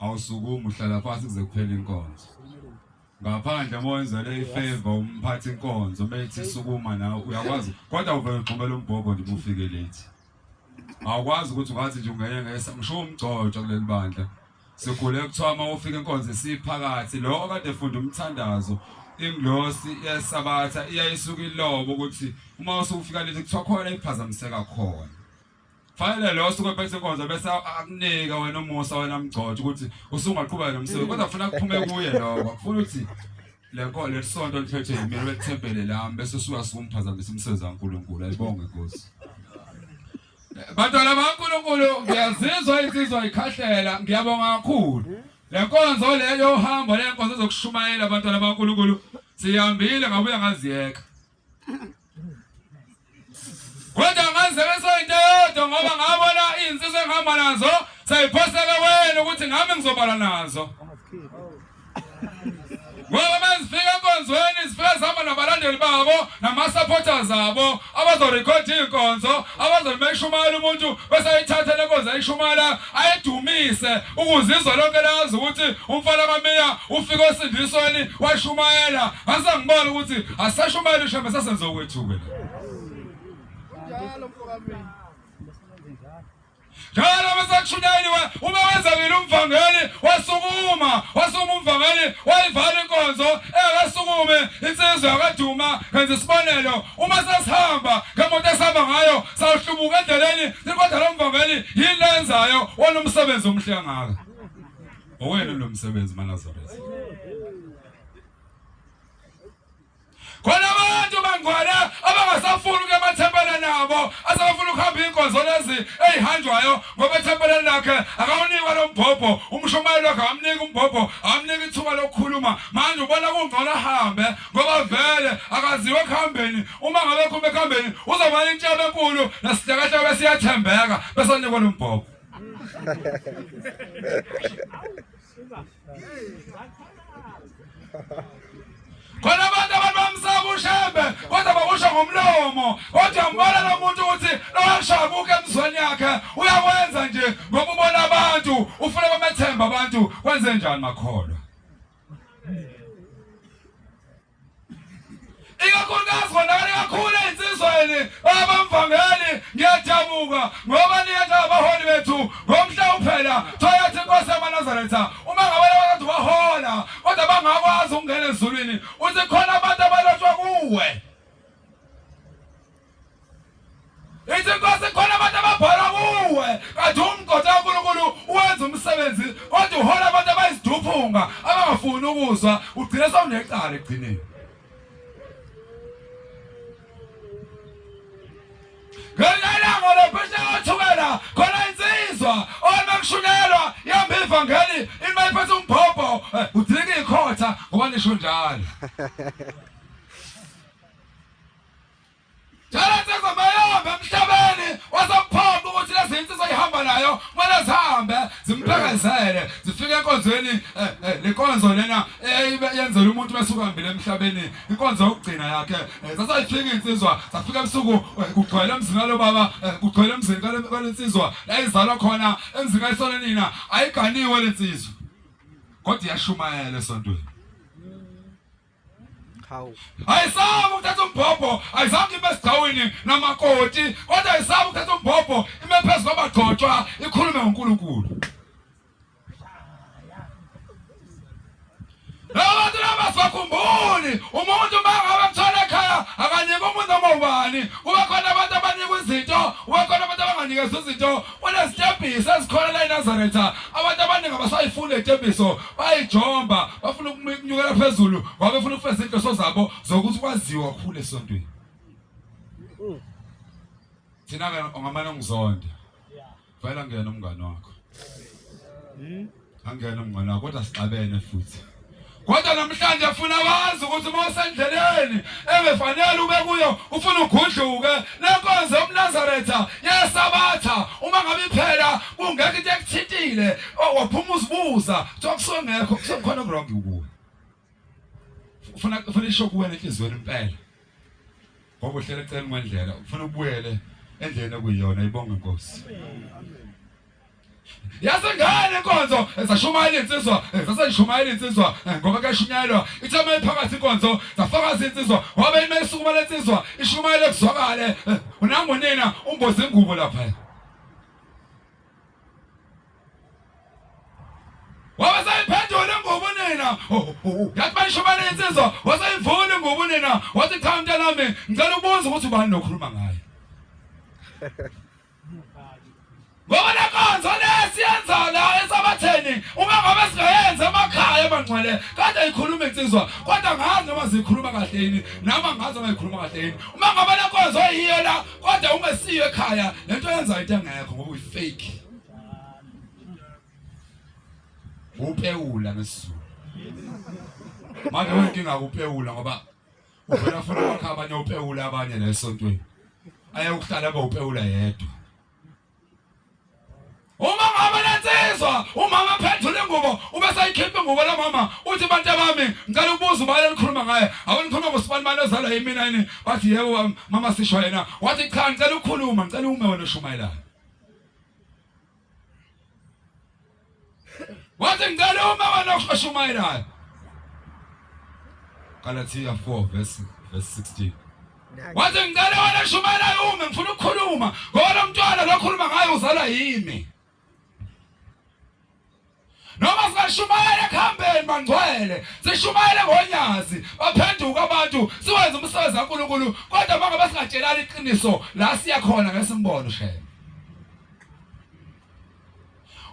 awusukumi uhlala phansi kuze kuphele inkonzo ngaphandle uma wenzele ifeva umphathi inkonzo uma ethi sukuma nawe uyakwazi kodwa uvele uxhumela umbhobho nje ubufike late awukwazi ukuthi ungathi nje ungene ngesa ngisho umgcotshwa kuleli bandla sikhule kuthiwa uma ufika inkonzo esiphakathi lo okade efunda umthandazo ingilosi yesabatha iyayisuka ilobo ukuthi uma usufika late kuthiwa khona iphazamiseka khona Fanele lo osuke phethe inkonzo bese akunika wena umusa wena mgcotshe ukuthi usungaqhubeka nomsebenzi kodwa ufuna kuphume kuye lokho. Ufuna ukuthi le nkolo lesonto liphethe yimina bethempele lami bese usuka sikumphazamisa umsebenzi kaNkulunkulu. Ayibonge Nkosi. Bantwana baNkulunkulu ngiyazizwa insizwa ikhahlela ngiyabonga kakhulu. Le nkonzo leyo uhambo le nkonzo zokushumayela abantwana baNkulunkulu siyambile ngabuya ngaziyeka. kodwa ngazebesa into eyodwa ngoba ngabona izinsizwa engihamba nazo seyiphoseke wena ukuthi ngami ngizobala nazo ngoba mezifika enkonzweni zifika zihamba nabalandeli babo nama-supporters abo abazorekhoda iy'nkonzo abazolimeshumayela umuntu bese ayithatha le nkonzo ayishumayela ayedumise ukuze izwe lonke lazi ukuthi umfana kaMeya ufike osindisweni washumayela ngase ngibona ukuthi asashumayela ishembe sasenze okwethuke njalo mfokamini njalo besathunyeliwe uma wenzekile umvangeli wasukuma wasukuma umvangeli wayivala inkonzo engakasukume insizwa yakaduma ngenza isibonelo uma sesihamba ngemoto esihamba ngayo sawuhlubuka endleleni kodwa lo mvangeli yini lenzayo wanomsebenzi omhle kangaka owena lo msebenzi manazaretha khona abantu bangcwele abangasafuni ukuya emathempeleni nabo asebefuna ukuhamba iy'nkonzo lezi ey'hanjwayo ngoba ethempeleni lakhe akawunikwa lo mbhobho umshumayeli wakhe akamniki umbhobho akamniki ithuba lokukhuluma manje ubona kungcono ahambe ngoba vele akaziwa ekuhambeni uma ngabe khumbe khambeni uzobona intshebe enkulu nesihlakahlaka siyathembeka bese unikwa lombhoko khona abantu abantu bamsaba ushembe kodwa bakusho ngomlomo kodwa ngibona lo muntu ukuthi lowashabuka emzweni yakhe uyakwenza nje ngoba ubona abantu ufuna bamethemba abantu kwenze njani makholwa ikakhulukazi konakale kakhulu ezinsizweni abamvangeli ngiyajabuka ngoba niyetha abaholi bethu ngomhla uphela thoyathi inkosi yamanazaretha uma ngabe abantu bahola kodwa bangakwazi ukungena ezulwini uthi khona abantu abalotshwa kuwe ithi inkosi khona abantu ababhala kuwe kanti umgoda kaNkulunkulu uwenza umsebenzi kodwa uhola abantu abayiziduphunga abangafuni ukuzwa ugcine sewunecala ekugcineni ngelelanga lophesha othukela khona insizwa uma kushunelwa yamba ivangeli ima iphethe umbhobho eh, udilika ikhotha ngoba nisho njalo Jala nsizwa mayihambe emhlabeni wasamphoqa ukuthi lezi insizwa ihamba nayo kumele zihambe zimphekenzele zifike enkonzweni eh, eh, le nkonzo lena eyenzela umuntu besuka hambile emhlabeni inkonzo yokugcina yakhe eh, sasayifika insizwa safika ebusuku kugcwele emzini walo baba kugcwele emzini kale nsizwa la izalwa khona emzini kayisona nina ayiganiwe le nsizwa kodwa iyashumayela esontweni hawu ayisaba ukuthatha umbhobho ayizange ibe sidawini namakoti kodwa ayisaba ukuthatha umbhobho ime phezu kwabagcotshwa ikhulume ngonkulunkulu labantu laba sibakhumbuli umuntu uma ngabe mthwala ekhaya akanika umuntu noma ubani kuba khona abantu abanika izinto kuba khona abantu abanganikeza izinto Unezitebhiso ezikhona la eNazaretha. Abantu abaningi abasayifuni letebhiso, bayijomba, bafuna ukunyukela phezulu ngoba befuna ukufeza inhloso zabo zokuthi kwaziwa kakhulu esontweni. Thina ke ongamane ngizonde. Vayela ngena umngane wakho. Angena mngana kodwa sixabene futhi. Kodwa namhlanje funa wazi ukuthi uma usendleleni engefanele ube kuyo ufuna ugudluke lenkonzo yomnazaretha yesabatha uma ngabe iphela kungekho into ekuthintile waphuma uzibuza kuthiwa kusuke ngekho kusukhona okurongi kuwe ufuna ufuna isho kuwena enhlizweni impela ngoba uhlele cela ngwendlela ufuna ubuyele endleni okuyiyona ibonga inkosi yasengane inkonzo zashumayela insizwa zasayishumayela insizwa ngoba kuyashunyayelwa ithe uma iphakathi inkonzo zafakaza insizwa wabe ime isukuma lensizwa ishumayele kuzwakale unangonina umboza ingubo lapha wasayiphendula ngobunina yathi bayishobana insizwa wasayivula ngobunina wathi cha mntanami ngicela ukubuza ukuthi ubani lokhuluma ngaye ngoba lenkonzo lesiyenza la esabatheni uma ngabe singayenza emakhaya emangcwele kade ikhuluma insizwa kodwa ngazi noma zikhuluma kahle yini nami angazi noma ikhuluma kahle yini uma ngabe lenkonzo yiyo la kodwa uma siye ekhaya lento yenza into engekho ngoba uyifake upewula ngesizulu manje wenkinga kupewula ngoba uvela funa wakha abanye upewula abanye nesontweni aye ukuhlala abawupewula yedwa uma ngabe lensizwa umama phendula ingubo ube sayikhipha ingubo la mama uthi bantu bami ngicela ukubuza ubani elikhuluma ngaye awunikhuluma ngosibani mali ozalwa yimina yini bathi yebo mama sisho yena wathi cha ngicela ukukhuluma ngicela ume wena ushumayelana Wathi ngicela uma wena okhashumayelayo. Galatia 4 verse verse 16. Wathi ngicela wena oshumayelayo ume ngifuna ukukhuluma ngoba lo mntwana lokhuluma ngaye uzalwa yimi. Noma singashumayela ekuhambeni bangcwele, sishumayele ngonyazi, baphenduka abantu, siwenze umsebenzi kaNkulunkulu, kodwa bangabe singatshelani iqiniso la siya khona ngesimbono shela.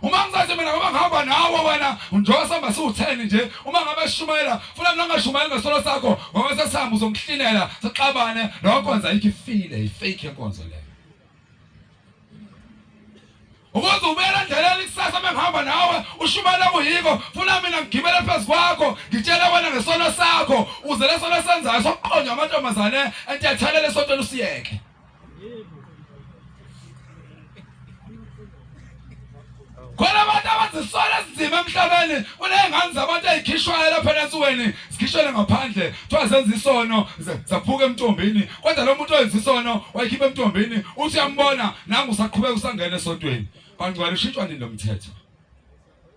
uma ngisathi mina ngoba ngihamba nawe wena njengoba sihamba siwutheni nje uma ngabe sishumayela funa mina ngashumayeli ngesolo sakho ngoba sesihamba uzongihlinela sixabane lokho kwenza ikho ifile ifake yenkonzo leyo ukuze ubuyela endleleni ikusasa mengihamba nawe ushumele kuyiko funa mina ngigibele phezu kwakho ngitshele wena ngesono sakho uze lesono senzayo sokuqonywa amantombazane entethelele esontweni usiyeke khona abantu abazisola esinzima emhlabeni kuney'ngane zabantu ey'khishwayo lapha enasuweni zikhishele ngaphandle kuthiwa zenza isono zaphuka emtombini kodwa lo muntu owenza isono wayikhipha emtombini uthi uyambona nangu usaqhubeka usangena esontweni bangcwala ushintshwa nini lo mthetho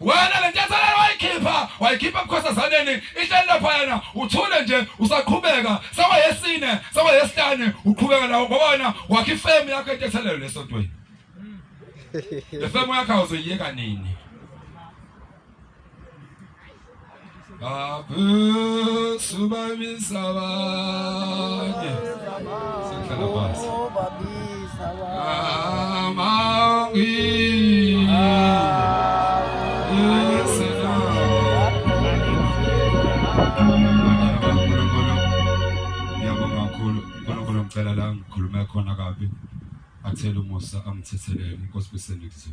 wena le ntathelelo wayikhipha wayikhipha ebukhosazaneni ihleli laphayana uthule nje usaqhubeka sewayesine sewayesihlane uqhubeka nawo ngoba wena wakhe ifemu yakho entethelelo lesontweni le femu yakho awuzoyiyeka nini ngicela la ngikhulume khona kabi athele umusa angithethelele inkosi besendikuzwe